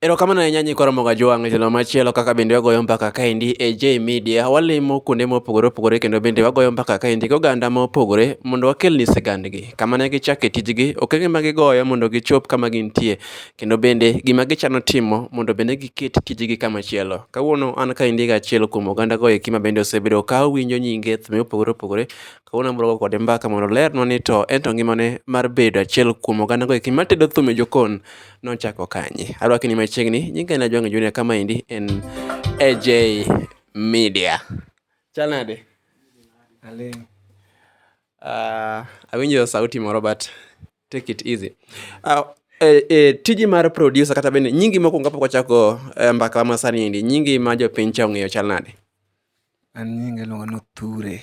Erokamano ahinya nyikwa Ramoga Jwang' e tielo machielo kaka bende wagoyo mbaka kaendi e J Media. Walimo kuonde mopogore opogore kendo bende wagoyo mbaka kaendi gi oganda mopogore mondo wakelni sigandgi. Kama ne gichako e tijgi, okenge ma gigoyo mondo gichop kama gintie kendo bende gima gichano timo mondo bende giket tijgi kamachielo. Kawuono an kaendi gi achiel kuom ogandago eki ma bende osebedo ka awinjo nyinge e thumbe mopogore opogore Kawuono abiro go kode mbaka mondo olernwa ni to en to ngimane mar bedo achiel kuom oganda goeki matedo thum e jokon nochako kanye. Arwaki ni machiegni, nyinga en Ajwang'e Junior kama endi en AJ Media. Chal nade? Aling'. Uh, awinjo sauti moro but take it easy. Uh, e, e, tiji mar producer kata bende nyingi mokwongo kapok wachako e, mbaka ma sani endi nyingi ma jopiny cha ong'eyo chal nade? An nyinga iluonga ni Othure.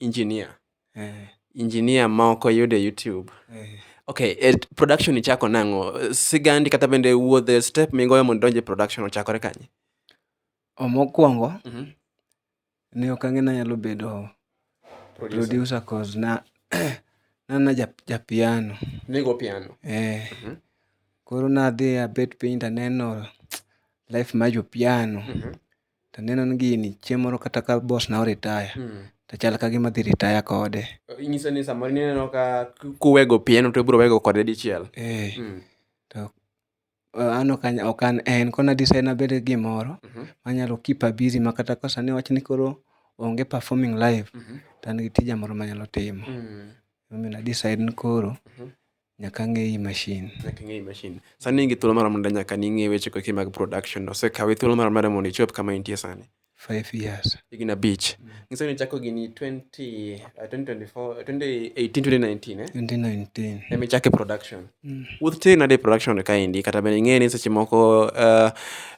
Engineer. Eh. Engineer ma ok oyud e YouTube. Eh. Okay, e production ichako nang'o? Sigandi kata bende wuodhe step migoyo mondo donje production ochakore kanye? Omokwongo, mm -hmm. ne ok ang'e nanyalo bedo producer, producer cause na nana japiano. Ja Nigo piano? Eh. Mm -hmm. Koro nadhi abet piny taneno life ma jopiano. Mm -hmm. to aneno ni gini chieng' moro kata ka boss na o retire to chal ka gima adhi retire kode. Inyiso ni samoro in ineno ka kuwego pieno to ibiro wego kode dichiel. Eeh, to an ok an ok an en. Koro na decide ni abed gi gimoro manyalo keep a busy ma kata ka sani wach ni koro onge performing live to an gi tija moro manyalo timo. Emomiyo na decide ni koro Nyaka ang'eyi machine. Nyaka ing'eyi machine. Sani in gi thuolo marom nade nyaka ning'e weche koki mag production? Osekawi thuolo marom nade mondo ichop kama intie sani? Five years. Higni abich. Mm. Nyiso ni ichako gini 20, uh, 2024, 2018, 2019, eh? 2019. Emi chake production. Mm. Wuoth tere nade production kaendi? Kata bende ing'e ni seche moko uh,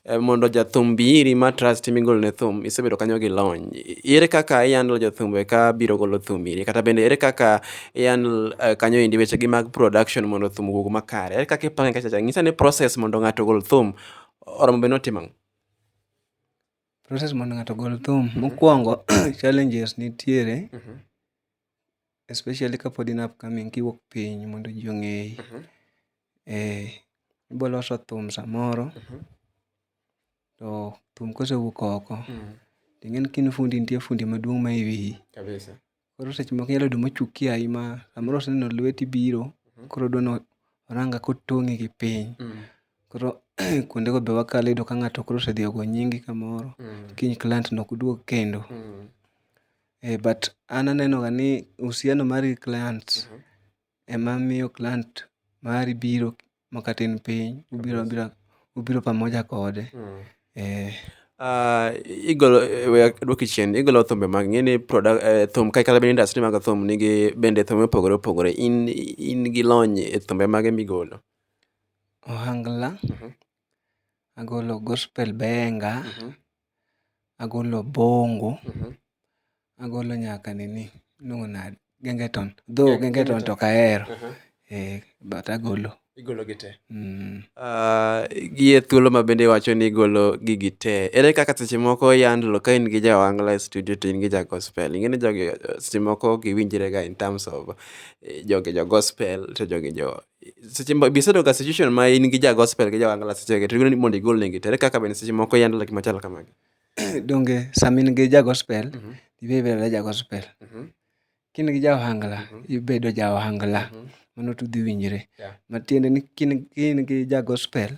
Eh, mondo jathum bi iri ma trust migolo ne thum isebedo kanyo gi lony I- ere kaka ihandle jothumbe ka biro golo thum iri kata bende ere kaka ihandle uh, kanyo endi weche gi mag production mondo thum owuog makare ere kaka ipange kachacha nyisa ni process mondo ng'ato ogol thum oromo be notimo ang'o? process mondo ng'ato ogol thum mokwongo challenges nitiere especially kapod in upcoming kiwuok piny mondo ji ong'eyi. Ee, ibo loso thum samoro, to thum kosewuok oko, to ing'eni ka in fundi nitie fundi maduong' ma e wiyi. Koro seche moko inyalo yudo mochung' ki ayi ma samoro oseneno lweti biro koro odwa ni orang kaka otong'i gi piny. Koro kuondego be wakalo iyudo ka ng'ato koro osedhi ogo nyingi kamoro, kiny client no ok duog kendo. Eh but an anenoga ni uhusiano mari gi client ema miyo client mari biro ma kata in piny ubiro abira ubiro pamoja kode. Eh, Ah, igolo eh, we adwoki chien igolo thumbe mag ng'e ni product eh, thum kai kata bende industry mag thum nigi bende thumbe mopogore opogore in in gi lony e thumbe mage migolo ohangla, agolo gospel benga, agolo obongo, agolo nyaka nini iluongo nade gengeton though gengeton to ok ahero but agolo. Igolo gi tee. Gi e thuolo ma bende iwacho ni igolo gigi tee, ere kaka seche moko yand lo ka in gi ja ohangla e studio to in gi ja gospel. Ing'e ni jogi seche moko ok giwinjre ga in terms of jogi jo gospel to jogi jo seche moko be isebedo e situation ma in gi ja gospel gi ja ohangla seche go to idwaro ni mondo igol negi to ere kaka bende seche moko i handle gik machalo kamagi Donge sama in gi ja gospel, ibe ibedo adeda ja gospel. Ka in gi ja ohangla, ibedo ja ohangla. Mano to udhi winjre. Yeah. Matiende ni ka in- ka in gi ja gospel,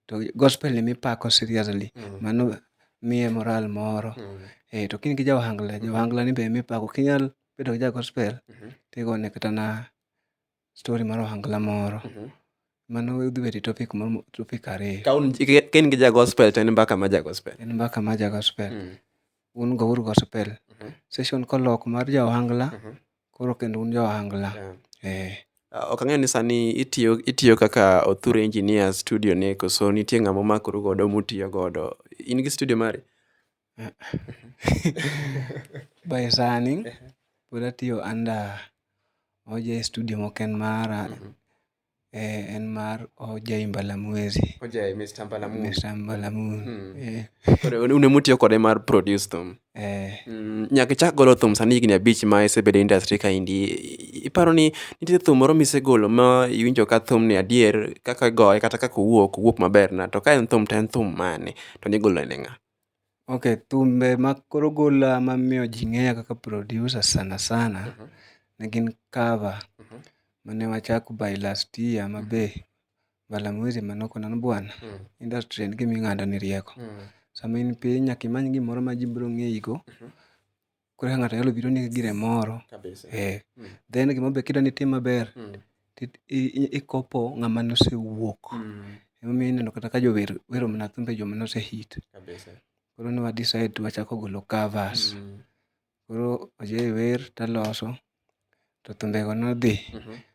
to gospel ni mipako seriously. Mano miye moral moro. Eh, to ka in gi ja ohangla, ja ohangla ni be mipako. Ok inyal bedo gi ja gospel, tigone kata na story mar ohangla moro mano udhi bedo e topic moro topic ariyo Ka un- ka- ka in gi ja gospel to en mbaka ma ja gospel en mbaka mar ja gospel Mm. un go uru gospel Mhm. session kolok mar ja ohangla Mhm. koro kendo un jo ohangla Yeah. eh Ah, ok ang'eyo ni sani itiyo itiyo kaka othur engineer studio ni koso nitie ng'ama omakoru godo mutiyo godo in gi studio mari By sani pod atiyo under Oja e studio mok en mara, en mar Oja e Mbalamwezi. Oja e Mr. Mbalamoon. Mr. Mbalamoon. Koro un ema utiyo kode mar produce thum. Eh, Mm, Nyaka ichak golo thum sani higni abich ma isebedo e industry ka indi. Iparo ni nitie thum moro misegolo ma iwinjo ka thum ni adier kaka igoye kata kaka owuok, owuok maber na. To ka en thum to en thum mane? To nigolo ne ng'a? Ok, thumbe ma koro ogola ma miyo ji ng'eya kaka producer sana sana ne gin cover mane wachak by last year ma be Balamwezi Manoko na Bwana. Industry en gima ing'ado ni rieko. Sama in piny nyaka imany gimoro ma ji biro ng'eyi go. koro kaka ng'ato nyalo biro ni gire moro. Then gimoro be kidwani itim maber, i copy ng'ama nosewuok. Emomiyo ineno kata ka jower wero mana thumbe joma nose hit. Koro ne wa decide ni wachako golo covers. Koro Ojay wer taloso. to thumbego nodhi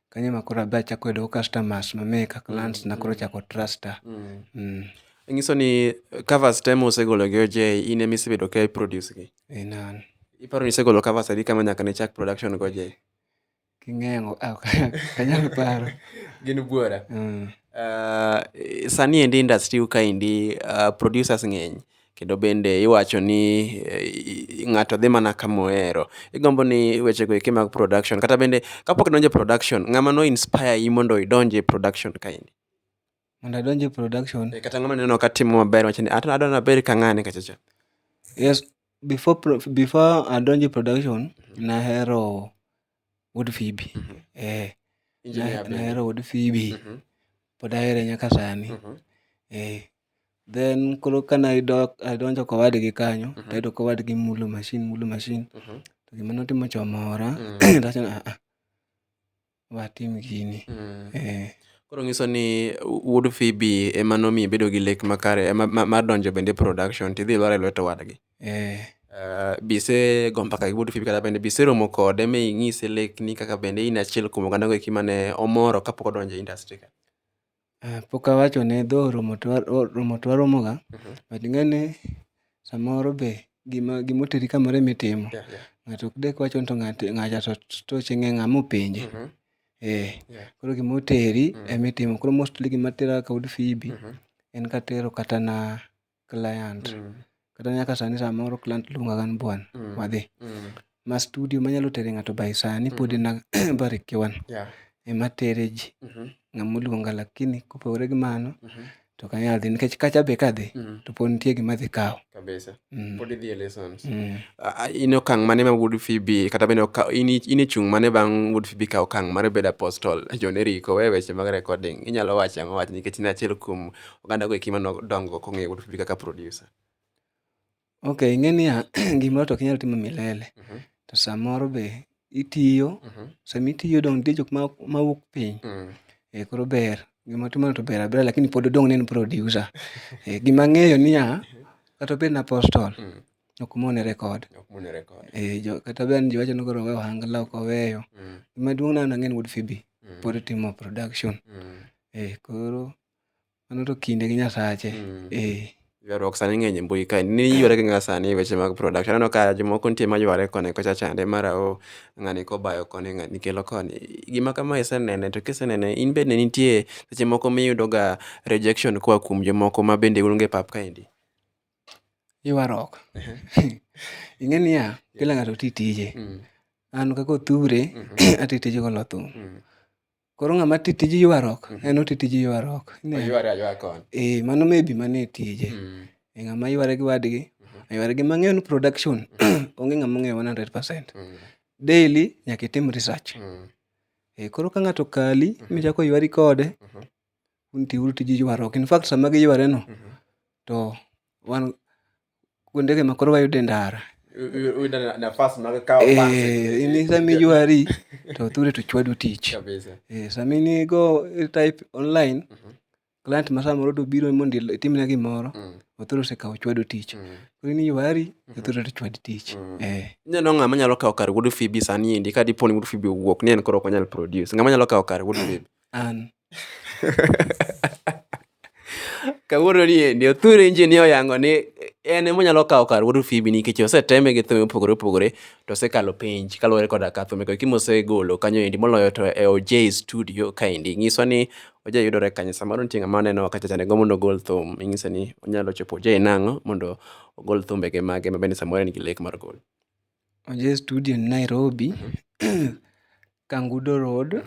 kanyo ema koro adhi achako yudo go customers mang'eny ka clients na koro ochako trusta. Nyiso ni covers te musegolo gi OJ in ema isebedo ka i produce gi? In an. Iparo ni isegolo covers adi kama nyaka ne ichak production gi OJ? King'eyo ok anyal paro. Gin buora. Sani endi industry u kaendi producers ng'eny Kendo bende iwacho ni ng'ato dhi mana kama ohero. Igombo ni wechego eki mag production kata bende kapok idonjo e production, ng'ama no inspire i mondo idonj e production kaendi? Mondo adonj e production. Eh, kata ng'ama neno ka timo maber wacho ni adwa ni abed ka ng'ani kacha cha. Yes, before before adonj e production nahero Wuod Fibi, eh. Nahero wuod Fibi, pod ahere nyaka sani. Eh, then koro ka ne adonjo kowadgi kanyo, tayudo ka owadgi mulo mashin mulo mashin. To gima notimo cha omora, tawacho ni aa, watim gini. Eh. Koro ng'iso ni wuod Fibi ema nomiyo ibedo gi lek makare, ma donjo bende e production, tidhi ilwar ilwet owadgi. Eh. Uh, be isego mbaka gi Wuod Phoebe kata bende be iseromo kode mi inyise lekni kaka bende in achiel kuom oganda go eki mane omoro kapok odonjo e industry ka? Uh, pok awacho ne dho romo to romo to waromoga uh mhm. -huh. but ng'ane samoro be gima gima oteri kamoro ema itimo yeah, yeah. ng'ato ok dek wacho ni to ng'ato ng'acha to toche ng'e ng'ama openje uh mhm. -huh. eh yeah. koro gima oteri uh mhm. -huh. ema itimo koro mostly gima tera ka Wuod Phoebe uh -huh. en katero kata na client kata nyaka sani samoro client luonga ga ni bwana wadhi ma studio manyalo tere ng'ato by sani pod en Barrick one ema tere ji ng'ama oluonga lakini kopogore gi mano to ok anyal dhi nikech kacha be kadhi to pod nitie gima adhi kawo kabisa pod idhi e lessons in e okang' mane ma wuod Phoebe kata bende oka- in i- in e chung' mane bang' wuod Phoebe kawo okang' mar bedo apostle John Eric owe weche mag recording inyalo wacho ang'o wach nikech in achiel kuom oganda go eki mano dongo ok ong'eyo wuod Phoebe kaka producer. Ok, ing'e niya, gimoro to ok inyal timo milele. Mhm. To samoro be itiyo, Mhm. sama itiyo dong' nitie jok ma ma wuok piny. Mm. Eh, koro ber. Gima timono to ber abera lakini pod odong' ni en producer. Eh, gima ang'eyo niya, kata obed na apostol, Mm. ok mone record. Ok mune record. Eh, jo, kata bed ni jowacho ni koro owe ohangla ok oweyo. Mm. Gima duong' nano ang'e ni wuod Phoebe Mm. pod timo production. Mm. Eh, koro Mano to kinde gi Nyasache. Mm. Eh. Ywaruok sani ng'eny e mbui kae. Ni yware gi ng'a sani e weche mag production. Aneno ka jomoko nitie ma yware koni kocha chande mar ao ng'ani kobayo koni ng'ani kelo koni. Gima kama isenene to kisenene in bende nitie seche moko miyudoga rejection koa kuom jomoko ma bende un go e pap kaendi. Ywaruok. Ing'e niya, kila ng'ato ti tije. Mm. An kaka othure, Mhm. ati tij golo thum. Mm. Koro ng'ama ti tij ywaruok, mm. en oti tij ywaruok. Oyware aywara kony. Eh, mano maybe mane tije. Mm. E ng'ama yware gi wadgi, mm-hmm. yware gi mang'eyo ni production, mm-hmm. onge ng'ama ong'eyo 100%. Mm. Daily nyaka itim research. Mm. Eh, koro ka ng'ato kali, mm-hmm. michako ywari kode, mm-hmm. un tiuru tij ywaruok. In fact, sama giyware no, mm-hmm. to wan kuondege ma koro wayude ndara in sama iywari to thuri to chwadu tich eh, sama in igo type online mhm. client ma samoro to biro mondo itimne gimoro mm. othuro osekawo chwadu tich mm. koro in iywari mhm. othuro to chwad tich mm. eh. neno ng'ama nyalo kawo kar wuod fibi sani endi ka dipo ni wuod fibi owuok ni en koro ok onyal produce ng'ama nyalo kawo kar wuod fibi An. Kawuono ni endi othur injin ni oyango ni en ema onyalo kawo kar wuod Fibi nikech oseteme gi thum opogore opogore to osekalo penj kaluwore koda ka thum eko kimo osegolo kanyo endi moloyo to e OJ studio kaendi nyiso ni OJ yudore kanyo samoro nitie ng'ama oneno kacha cha nego mondo ogol thum inyise ni onyalo chopo OJ nang'o mondo ogol thumbege mage ma bende samoro en gi lek mar golo. Oje studio ni Nairobi, Kangudo Road,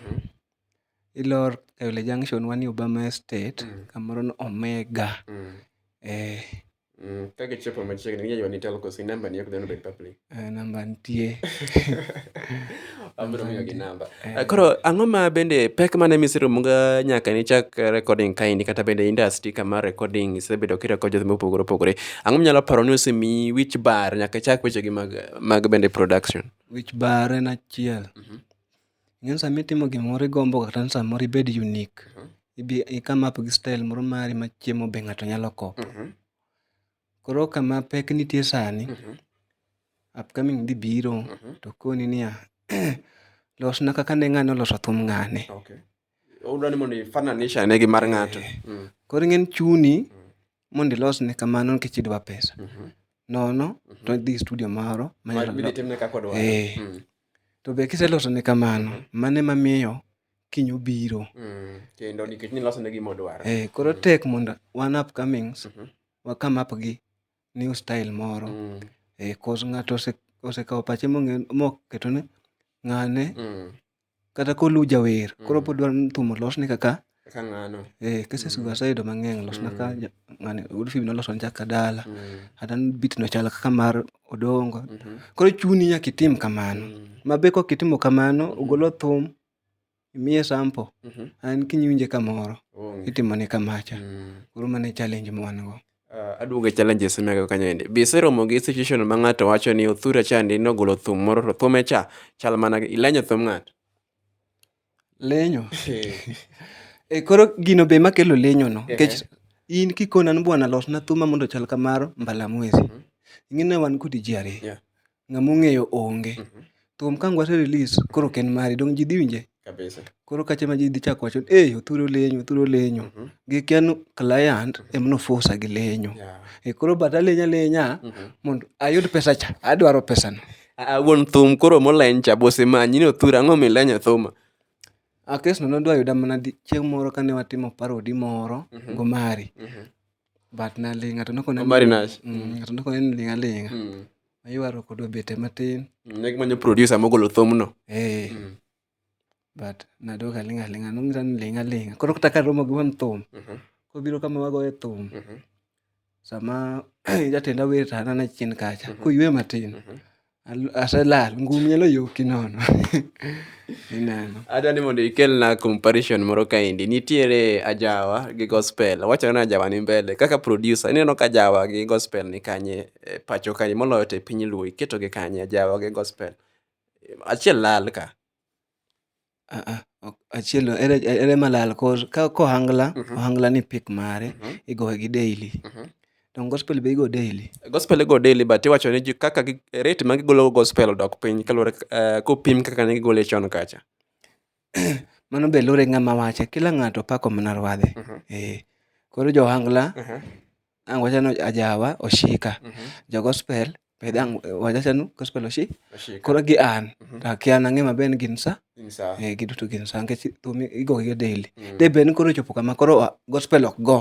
ilor Kayole Junction one yo Obama Estate, kamoro ni Omega. Eeh. Ka gichopo machiegni ginya ywani telco, si namba ni ok dwar ni obed public. Eeh, namba nitie. abiro miyo gi namba eh. Eh, koro ang'o ma bende pek mane miseromoga nyaka nichak recording kaendi kata bende industry kama recording isebedo kireko jothe mopogore opogore ang'o minyalo paro ni osemi wich bar nyaka ichak wechegi mag, mag bende production wich bar en achiel mm-hmm. ng'en sama itimo gimoro igombo kata ni samoro ibed unique mm-hmm. ikam up gi style moro mari ma chiemo be ng'ato nyalo kopo mm-hmm. Koro kama pek nitie sani, upcoming dhi biro to koni niya, losna kaka ne ng'ane oloso thum ng'ane. Odwa ni mondo i-fananisha ane gi mar ng'ato. Mm. Koro ing'eni chuni mondo ilosne kamano nikech idwa pesa. Nono to idhi studio moro manyalo Midhi timne kaka odwaro. Eh. Mm. To be kiselosone kamano, mano ema miyo kiny obiro. Mm, kendo nikech ni loso ne gima odwaro. Eh, koro mm. tek mondo wan upcomings mm -hmm. wa come up gi new style moro. Mm. Eh, cause ng'ato ose osekawo pache mong'e moketo ne ng'ane mm. kata kolu jawer mm. koro pod dwaro ni thum olosne kaka kaka ng'ano. Eh, cases mm. waseyudo mang'eny olosna ka mm. ng'ane Wolfie noloso nja kadala. Mm. Kata beat no chal kaka mar odongo. Mm -hmm. Koro chuni nyaka itim kamano. Mm -hmm. Ma be kok itimo kamano, mm -hmm. ogolo thum, imiye sample, mm -hmm. an kinyinje kamoro, oh. itimo ne kamacha. Mm -hmm. Koro mane challenge ma wan go. Uh, aduogo e challenges mega kanyo ende be iseromo gi situation ma ng'ato wacho ni othura chandi nogolo thum moro to thume cha chal mana ilenyo thum ng'ato Lenyo. E koro gino be makelo lenyo no. Nikech in kikona ni bwana losna thuma mondo chal kamaro mbala mwezi. Mhm. Ing'e wan kodi ji ariyo. Ng'ama ong'eyo onge. Mhm. Thum ka ngwase release koro ken mari dong ji dhi winje. Kabisa. Koro kacha ma ji dhi chako wacho eh othuro lenyo othuro lenyo. Mhm. Gi ken client mhm. em no force gi lenyo. E koro bata lenya lenya mondo ayud pesa cha adwaro pesa no. Ah, wuon thum koro moleny cha bose manyi ni othur ang'o milenyo thuma Ah, kesno nodwa yuda mana di- chieng' moro kane watimo parodi moro Mhm. gomari Mhm. but naling' ng'ato nokona Omari Nash. ng'ato nokona ni ling' aling'a Mm. aywaruok odwa bete matin Mm, ne gimanyo producer mogolo thumno Eh, Mm. but nadok aling' aling'a nong'isa ni ling' aling'a koro kata karomo gi wang' thum Mhm. kobiro kama wagoye thum Mhm. sama jatenda wer to an ana chien kacha koywe matin Mhm. al- aselal ngum nyalo yoki nono ineno adwa ni mondo ikelna comparison moro kaendi nitiere ajawa gi gospel wachore ni ajawa ni mbele kaka producer ineno ka ajawa gi gospel ni kanye e, pacho kanye moloyo to e piny luo iketogi kanye ajawa gi gospel Achiel lal ka. Aaah, ok achiel no ere ere malal kor ka ohangla, ohangla ni pick mare igoye gi daily. Donge gospel be igo daily? Gospel igo daily but iwacho ni ji kaka gi rate ma gigolo go gospel odok piny kaluwore eh, kopim kaka ne gigole chon kacha. Mano be luwore gi ng'ama wache. Kila ng'ato pako mana ruadhe. Ee. Koro jo ohangla, ang' wacha ni ajawa oshika. Jo gospel be dang' wacha ni gospel oshi, koro gi an, to akia an ang'e maber ni gin sa. Ee giduto gin sa nikech thum igo gi ga daily. De bed ni koro ochopo kama koro gospel ok go,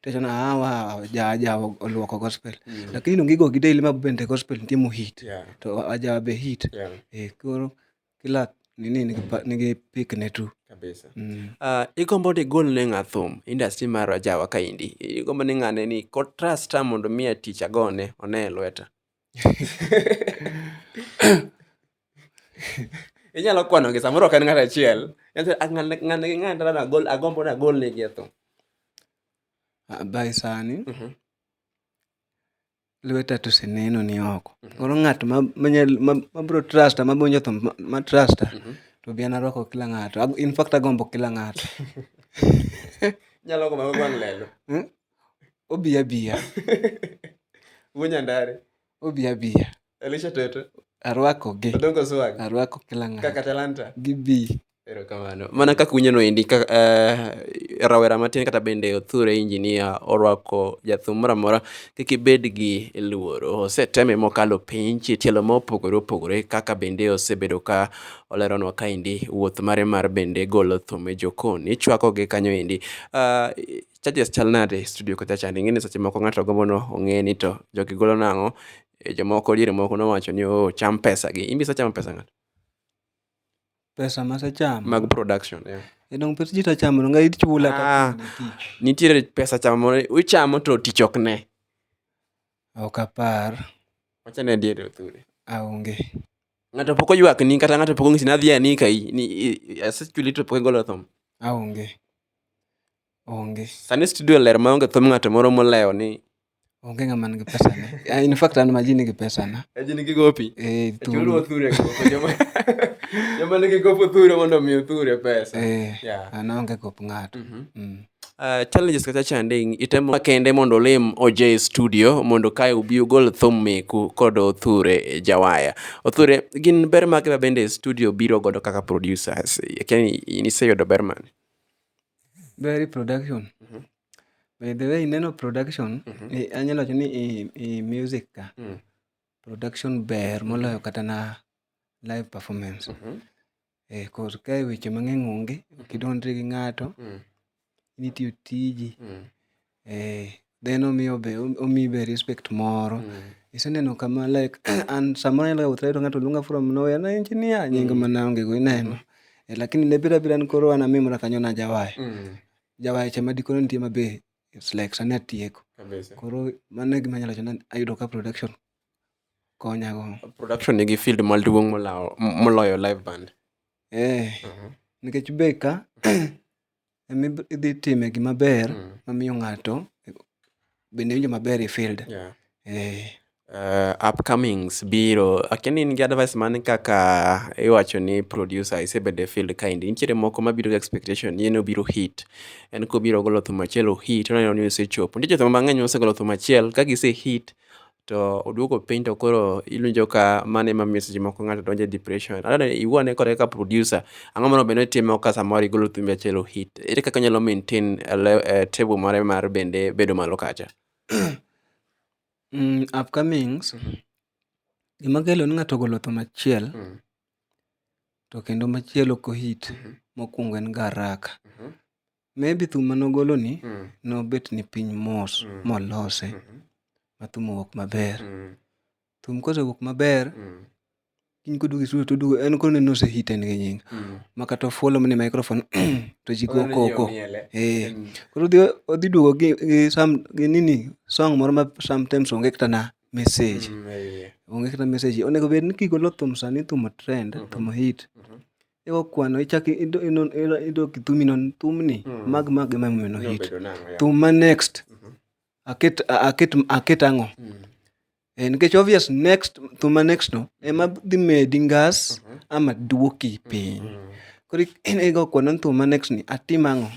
tiwacho ni awa ajawa oluoko gospel. Lakini donge igo gi daily ma bende gospel nitie mohit. To ajawa be hit. Ee koro. kila nini nigi, pa- nigi pik ne tu kabisa mm. Ah, igombo ni igol ne ng'a thum industry mar rajawa kaendi igombo ni ng'ane ni kotrusta mondo miya tich agone one e lweta inyalo kwanogi samoro ok en ng'at achiel Nyathi- a- ng'ane ng'ane gi ng'ane dala nagol agombo ni agol negi e thum Ah, by sani Mhm. lweta to oseneno ni oko. Mhm. Koro ng'at ma manyal ma, ma bro trusta ma bonjo to ma, ma trusta mm -hmm. to bi anarwako kila ng'ato. In fact agombo kila ng'ato. Nyalo gombo ma gwang' lelo. Hmm? Obi abiya. Wunya ndare. Obi abiya. Elisha Toto. Arwako gi. Odongo Swag. Arwako kila ng'ato. Kaka Talanta. Gibi. Erokamano. Mana kaka unyono endi ka, uh, rawera matin kata bende othure injinia orwako jathum moro amora kik ibed gi luoro. Oseteme mokalo penj e tielo ma opogore opogore kaka bende osebedo ka oleronwa ka endi wuoth mare mar bende golo thum e jokon. Ichwako gi kanyo endi. Uh, charges chal nade e studio kocha chande ing'e ni seche moko ng'ato gombo no ong'e ni to jogi golo nang'o Eh, jomoko diere moko nowacho ni oh, cham pesa gi. Imbi isechamo pesa ng'ato? Pesa masechamo. Mag production, yeah. E dong' pes ji tachamo, donge ichula Ah. ka pile tich. Nitiere pesa chamo moro ichamo to tich ok ne. Ok apar, Wacha ne diere othuri. aonge. Ng'ato pok oywak ni kata ng'ato pok ong'isi ni adhi ani kai ni i- i- asechuli to pok igolo thum. Aonge. Onge. Sani studio ler maonge thum ng'ato moro molewo ni Onge ng'ama nigi pesa ne. Ah, In fact an ma ji nigi pesa na. Ji nigi gopi. Eh, Chulo thuru. othure gopo. Joma- Joma nigi gopo othure mondo omi othure pesa. Eh, Yeah. an aonge gop ng'ato. Mm. Uh, challenges kata chanding itemo kende mondo olim OJ studio mondo kae ubi ugol thum meku kod Othure Jawaya. Othure, gin ber mage ma bende studio biro godo kaka producers? Yaani niseyudo ber mane? Berry production. By the way, ineno production, Mhm. eh, anyalo wacho ni i, i music ka, Mm. production ber moloyo kata na live performance. Mhm. Eh, cause kae weche mang'eny onge, ok idondri gi ng'ato, Mm. nitiyo tiji. Mm. Eh, then omiyo be, omiyi be respect moro. Mm. Iseneno kama like, an samoro anyalo wuoth tayudo ng'ato luonga from nowhere, na engineer, nying Mm. mana onge go ineno. Eh, lakini ne bira bira ni koro an amimra kanyo najawayo. Mm. jawacha ma dikoro nitie ma be it's like sani atieko. Kabisa. Koro mano e gima anyalo wacho ni ayudo ka production konya go. Production nigi field maduong' molawo- moloyo live band. Eh, Mhm. nikech be ka ema idhi time gima ber Mm. mamiyo ng'ato bende iwinjo maber e field. Yeah. Eh. Uh, upcomings biro akia ni in gi advice mane kaka iwacho ni producer isebedo e field kaendi nitiere moko mabiro gi expectation ni en obiro hit en kobiro golo thum achiel ohit oneno ni osechopo nitie joma mang'eny mosegolo thum achiel ka gise hit to oduogo piny to koro iwinjo ka mano ema miyo seche moko ng'ato donjo e depression. Aneno ni iwuo ane kode kaka producer, ang'o monego bed ni itimo ka samoro igolo thumbi achiel o hit. Ere kaka inyalo maintain table mare mar bende bedo malo kacha? Upcomings, gima kelo ni ng'ato ogolo thum achiel to kendo machielo ok o hit, mokwongo en ga haraka. Maybe thum mane ogolo ni mm. nobet ni piny mos mm. molose mm -hmm. ma thum owuok maber. Mm. Thum kosewuok maber mm. kiny koduogo e studio toduogo en koro neno ose hit en gi nying. Mm. Ma kata ofuolo mane microphone to ji go koko. Eh. Mm. Koro odhi odhi duogo gi, gi sam gi nini song moro ma sometimes onge kata na message. Mm, yeah. Onge kata message. Onego bed ni kigolo thum sani thum trend, mm -hmm. thum hit. Mm -hmm. Ewa kwano ichak ido- inon- ira- idok thumi non thumni mag mag ema emomiyo no hit Obedo nang'o, yeah. thum ma next aket a- aket aket ang'o Eh, nikech obvious next thum ma next no ema dhi medi ngas ama duoki piny koro ik- in igo kwano ni thum ma next ni atim ang'o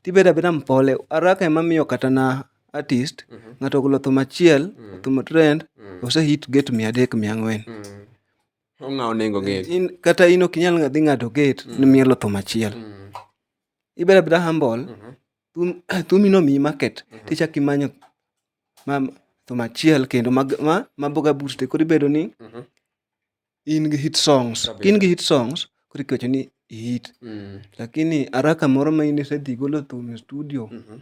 tibedo abeda mpole araka ema miyo kata na artist ng'ato ogolo thum achiel thum trend ose hit get mia adek mia ang'wen ong'awo nengo gate in kata in ok inyal dhi ng'ado gate mm. ni mielo thum achiel mm. ibeda beda humble mm-hmm. thum thumi no mi market mm-hmm. tichak imanyo ma thum achiel kendo ma ma, ma boga boost koro ibedo ni mm-hmm. in gi hit songs in gi hit songs koro ikecho ni hit mm. lakini araka moro ma in isedhi golo thum e studio mm-hmm.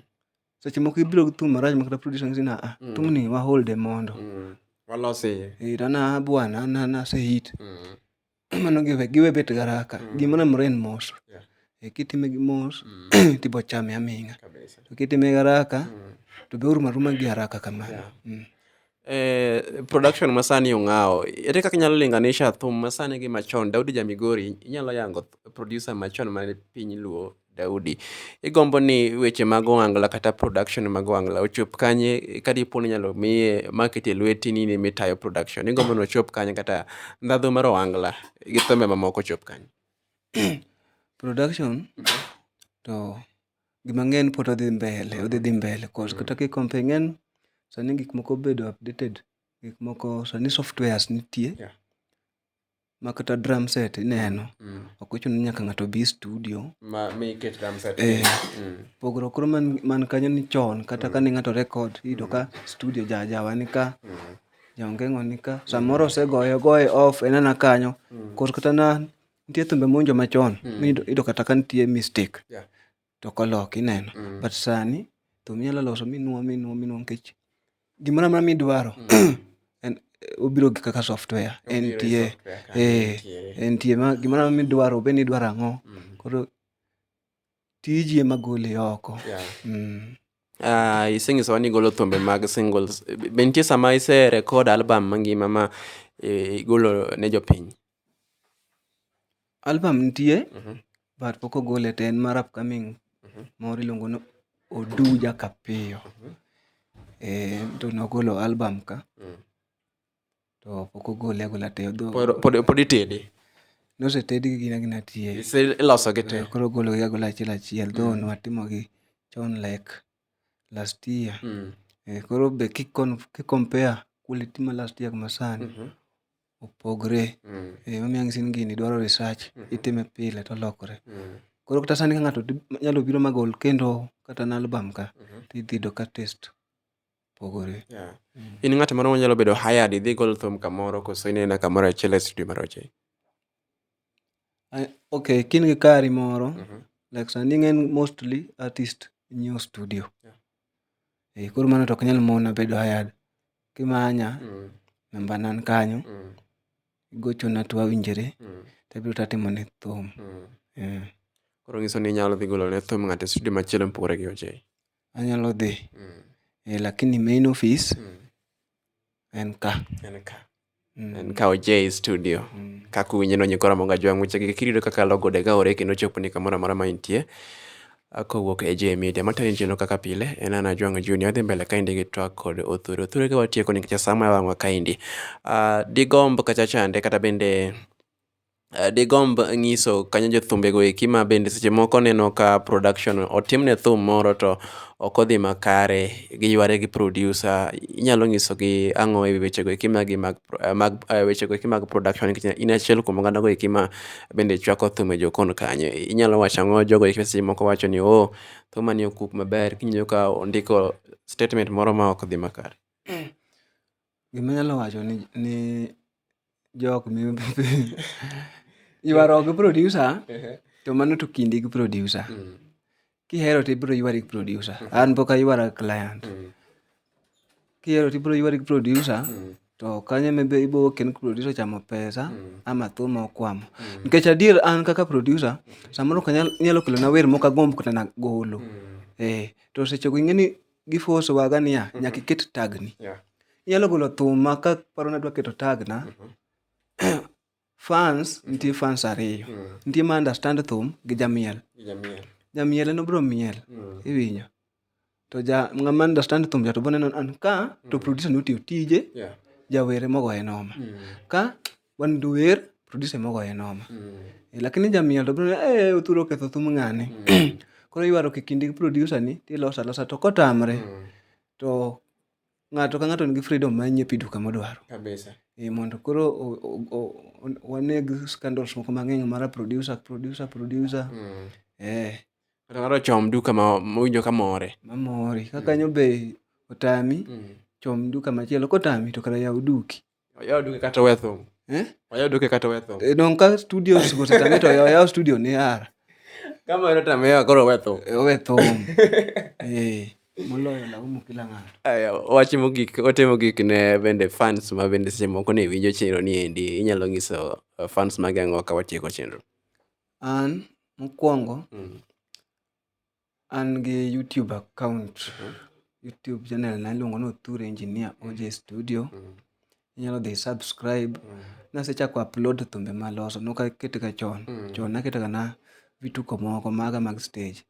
seche moko ibiro gi thum marach makata producer nyisi ni aa mm. thumni waholde mondo mm. walose eh, to na bwana na na se hit mm. mano giwe giwe bet garaka mm. gima na mren mos yeah. e, kitime gi mos mm. tibo chame aming'a to kitime garaka mm. to be uruma ruma gi haraka kamano yeah. mm. Eh, production masani ong'awo. Ere kaka inyalo linganisha thum masani gi machon? Daudi ja Migori, inyalo yango th- producer machon ma piny Luo, Daudi. Igombo ni weche mag ohangla kata production mag ohangla ochop kanye ka dipo ni inyalo miye market e lweti ni in ema itayo production. Igombo ni ochop kanye kata ndhadhu mar ohangla gi thumbe mamoko ochop kanye? production to gima ng'eny pod odhi mbele, odhi dhi mbele cause kata ki compare ing'eni sani gik moko obedo updated, gik moko sani softwares nitie ma kata drum set ineno, ok ochuno ni nyaka ng'ato obi e studio. Ma mi iket drum set. Eh. Mm. Pogruok koro man, man kanyo ni chon kata kane ng'ato record iyudo ka studio ja jawa ni ka jaongeng'o ni ka samoro osegoye ogoye off en ana kanyo koro kata na nitie thumbe monjo machon mm. iyudo kata ka nitie mistake yeah. to kolok ineno mm. but sani thum inyalo loso minwo minwo minwo nikech gimoro amora midwaro mm. en eh, obiro gi kaka software entie entie eh, gimoro amora midwaro obed ni idwaro ang'o mm. koro Tiji ema gole oko. Yeah. Mm. Uh, isenyisowa ni igolo thumbe mag singles be nitie sama ise record album mangima ma eh, igolo ne jopiny album nitie mm -hmm. but pok ogole te en mar upcoming mm -hmm. moro iluongo ni oduja kapiyo mm -hmm. e, to nogolo album ka mm -hmm. To pok ogole agola te odho. Pod pod itede. Nosetedgi gin agina tie. Ise ilosogi te. Koro ogologi agola achiel achiel though nwatimogi chon like last year. Eh, koro be ki kon- ki compare quality ma last year gi ma sani, opogre. Eh, emomiyo ang' isin gini dwaro research, itime pile tolokore. Koro kata sani ka ng'ato nyalo biro ma gol kendo kata an album ka, tidhi yudo ka taste. pogore. Yeah. In ng'at moro manyalo bedo hired idhi gol thum kamoro koso inena kamoro achiel e studio mar Ochei? I- Okay, kin gi kari moro, Mhm. like sani ng'eny mostly artist nyiewo studio. Yeah. Eh, koro mano to ok nyal mona bedo hired. Kimanya, Mm, namba nan kanyo, mm, igochona to wawinjore, mm, to abiro to atimo ne thum. mm. Eh. Koro nyiso ni inyalo dhi golo ne thum ng'ato e studio machielo mopogore gi Ochei. Anyalo dhi eh lakini main office en ka. En ka. En ka oje e studio. Kaka uwinje no nyikwa Ramogi Ajwang' weche gi kiyudo kaka logo de ka ore kendo choponi kamoro amora ma intie. Kowuok e J Media. Matayo e chenro kaka pile en an Ajwang'o Junior. Adhi mbele kaendi gi twak kod Othuri. Othuri ka watieko nikech saa maya wang'wa kaendi. Digomb kacha chande kata bende. digomb ng'iso kanyo jothumbego eki ma bende seche moko neno ka production otimne thum moro to ok odhi makare, giyware gi producer. Inyalo nyisogi ang'o e wi wechego eki magi mag mag wechego eki mag production nikech in achiel kuom oganda go eki ma bende chwako thum e jokon kanyo. Inyalo wacho ang'o jogo eki ma seche moko wacho ni oh, thumani ok wuog maber, kiny iyudo ka ondiko statement moro ma ok dhi makare. Gima anyalo wacho ni jok ma yuaruok gi producer to mano to kindi gi producer. Kihero to ibiro yuari gi producer. An pok ayuara gi client. Kihero to ibiro yuari gi producer to kanyo ema be ibiro wuokie ni producer ochamo pesa ama thuol ma okwamo. Nikech adier an kaka producer samoro inyalo kelona wer ma ok agomb kata mana golo. Ee to seche go ing'e ni. giforce waga niya mm-hmm. nyaka iket tagni yeah. inyalo golo thuma ka paro nadwa keto tagna mm-hmm. fans mm-hmm. nitie fans ariyo mm. nitie ma understand thum gi jamiel jamiel en obro miel mm. iwinyo to ja ng'ama understand thum ja to boneno an ka to mm. producer ni otiyo tije yeah. jawere mogoye noma mm. ka wan duwer producer mogoye noma Eh, lakini jamiel to biro eh othuro ketho thum ng'ane koro iywaro ki kindi gi producer ni tiloso alosa to kotamre to ng'ato ka ng'ato nigi freedom mar nyiepi duka modwaro kabisa Eh, mondo koro o- o- o- o- waneg scandals moko mang'eny mara producer producer producer eh kata ng'ato ochom duka ma mowinjo ka more mamori ka kanyo be otami chom duka machielo kotami to kara yaw duki Oyawo duke kata owe thum. Eh? Oyawo duke kata owe thum. Eh, Dong' ka studio osetame to yaw yaw studio ni ara. Kama wero tame yawa koro owe thum. Eh, Owe thum. Eh, moloyo laumu kila ng'ato. Aya, wach mogik ote mogik ne bende fans ma bende seche moko ne winjo chenro ni endi inyalo nyiso uh, fans mage ang'o ka watieko chenro An mokwongo Mm. An gi YouTube account, YouTube channel na iluongo ni Othur Engineer OJ Studio. Inyalo dhi i subscribe. Nasechako upload thumbe maloso, nok aketga chon. Chon naketoga na vituko moko maga mag stage.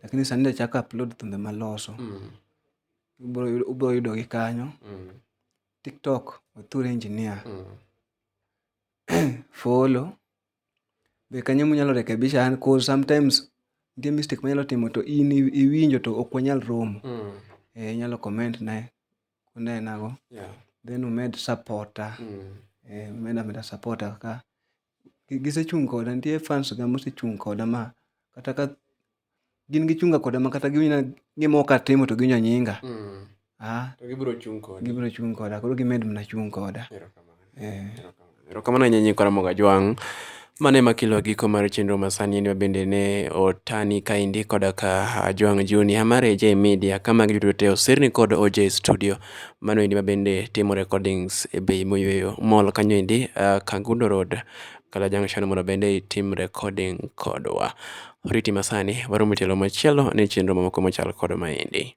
Lakini sani be achako upload thumbe maloso. Ubro yudo gi kanyo. TikTok, Othur Engineer. Follow, Be kanyo ema unyalo rekebisha an cause sometimes nitie mistake manyalo timo to in iwinjo to ok wanyal romo. Mm. Eh, inyalo comment na unena go. Yeah. Then umed supporta. Mm. Eh, umed ameda supporta ka gisechung' koda nitie fans ga mosechung' koda ma kata ka gin gichunga koda ma kata giwinja gima ok atimo to giwinjo nyinga. Mm. Ah. To gibiro chung' koda. Gibiro chung' koda. Koro gimed mana chung' koda. Erokamano. Eh. Erokamano ahinya nyinyi Karamogo Ajwang'. Mane makilo giko mar chenro masani en bende ne otani kaendi koda ka Ajwang' Junior mar AJ Media ka magi duto te oserni kod OJ Studio. Mano endi ma bende timo recordings e bei moyweyo mall kanyo endi uh, Kangundo Road Kala Junction mondo bende itim recording kodwa. Oriti masani, waromo e tielo machielo ne chenro mamoko machal kod maendi.